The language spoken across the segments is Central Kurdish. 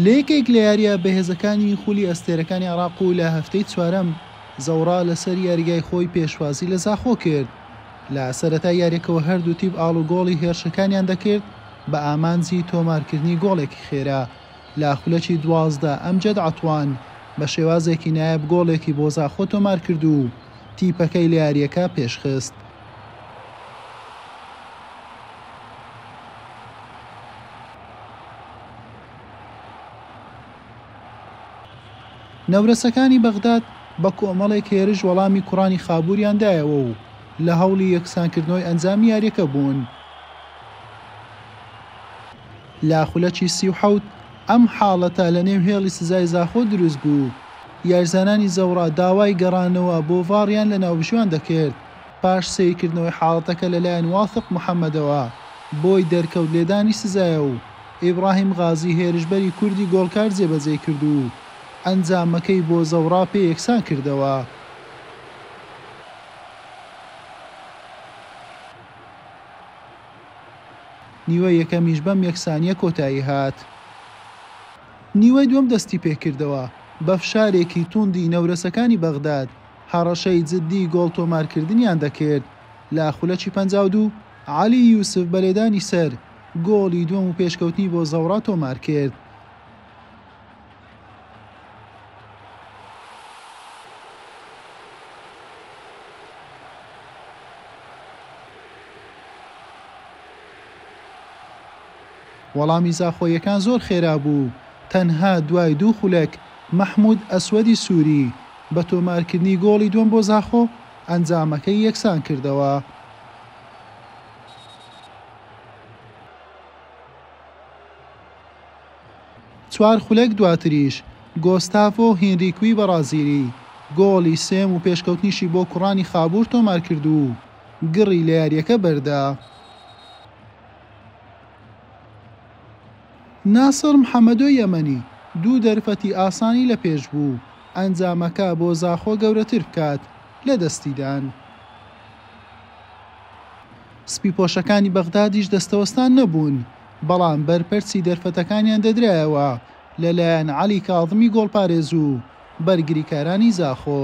لە یەکێک لە یارییە بەهێزەکانی خولی ئەستێرەکانی عێراق و لە هەفتەی چوارەم، زەوڕا لەسەر یاریگای خۆی پێشوازی لە زاخۆ کرد. لە سەرەتای یارییەکەوە هەردوو تیپ ئاڵوگۆڵی هێرشەکانیان دەکرد بە ئامانجی تۆمارکردنی گۆڵێکی خێرا لە خولەکی دوازدە، ئەمجەد عەتوان بە شێوازێکی نایاب گۆڵێکی بۆ زاخۆ تۆمارکرد و تیپەکەی لە یارییەکە پێشخست. نەورەسەکانی بەغداد بە کۆمەڵێک هێرش وەڵامی کوڕانی خابووریان دایەوە و لە هەوڵی یەکسانکردنەوەی ئەنجامی یاریەکە بوون. لە خولەکی سی و حەوت ئەم حاڵەتە لە نێو هێڵی سزای زاخۆ دروست بوو، یاریزانانی زەوڕا داوای گەڕانەوە بۆ ڤاڕیان لە ناوبژیوان دەکرد، پاش سەیرکردنەوەی حاڵەتەکە لەلایەن واثق محەمەدەوە، بۆی دەرکەوت لێدانی سزایە و ئیبراهیم غازی هێرشبەری کوردی گۆڵکار جێبەجێی کرد و ئەنجامەکەی بۆ زەوڕا پێ یەکسان کردەوە. نیوەی یەکەمیش بەم یەکسانییە کۆتایی هات. نیوەی دووەم دەستیپێکردەوە بە فشارێکی تووندی نەورەسەکانی بەغداد، هەڕەشەی جددی گۆڵ تۆمارکردنیان دەکرد لە خولەکی پەنجا و دوو، عەلی یوسف بە لێدانی سەر، گۆڵی دووەم و پێشکەوتنی بۆ زەوڕا تۆمارکرد. وەڵامی زاخۆییەکان زۆر خێرا بوو، تەنها دوای دوو خولەک مەحمود ئەسوەدی سوری بە تۆمارکردنی گۆڵی دووەم بۆ زاخۆ، ئەنجامەکەی یەکسان کردەوە. چوار خولەک دواتریش گۆستافۆ هینریکوی بەڕازیلی گۆڵی سێم و پێشکەوتنیشی بۆ کوڕانی خابوور تۆمارکرد و گڕی لە یارییەکە بەردا. ناسڕ محەمەدۆ یەمەنی دوو دەرفەتی ئاسانی لە پێش بوو ئەنجامەکە بۆ زاخۆ گەورەتر بکات لە دەستیدان. سپیپۆشەکانی بەغدادیش دەستەوەستان نەبوون، بەڵام بەرپەرچی دەرفەتەکانیان دەدرایەوە لەلایەن عەلی کاظمی گۆڵپارێز و بەرگریکارانی زاخۆ.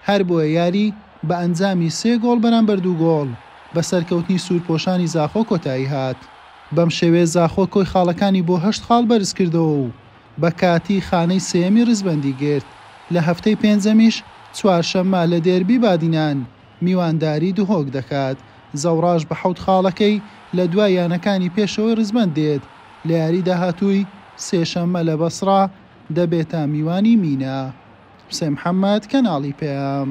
هەربۆیە یاری بە ئەنجامی سێ گۆڵ بەرامبەر دوو گۆڵ بە سەرکەوتنی سوورپۆشانی زاخۆ کۆتایی هات، بەم شێوەیە زاخۆ کۆی خاڵەکانی بۆ هەشت خاڵ بەرزکردەوە و بە کاتی خانەی سێیەمی ڕیزبەندی گرت، لە هەفتەی پێنجەمیش چوارشەممە لە دێربی بادینان میوانداری دهۆک دەکات، زەوڕاش بە حەوت خاڵەکەی لە دوای یانەکانی پێشەوەی ڕیزبەند دێت، لە یاری داهاتووی سێشەممە لە بەسڕە. دەبێتە میوانی مینا. حوسێن محەمەد، کەناڵی پەیام.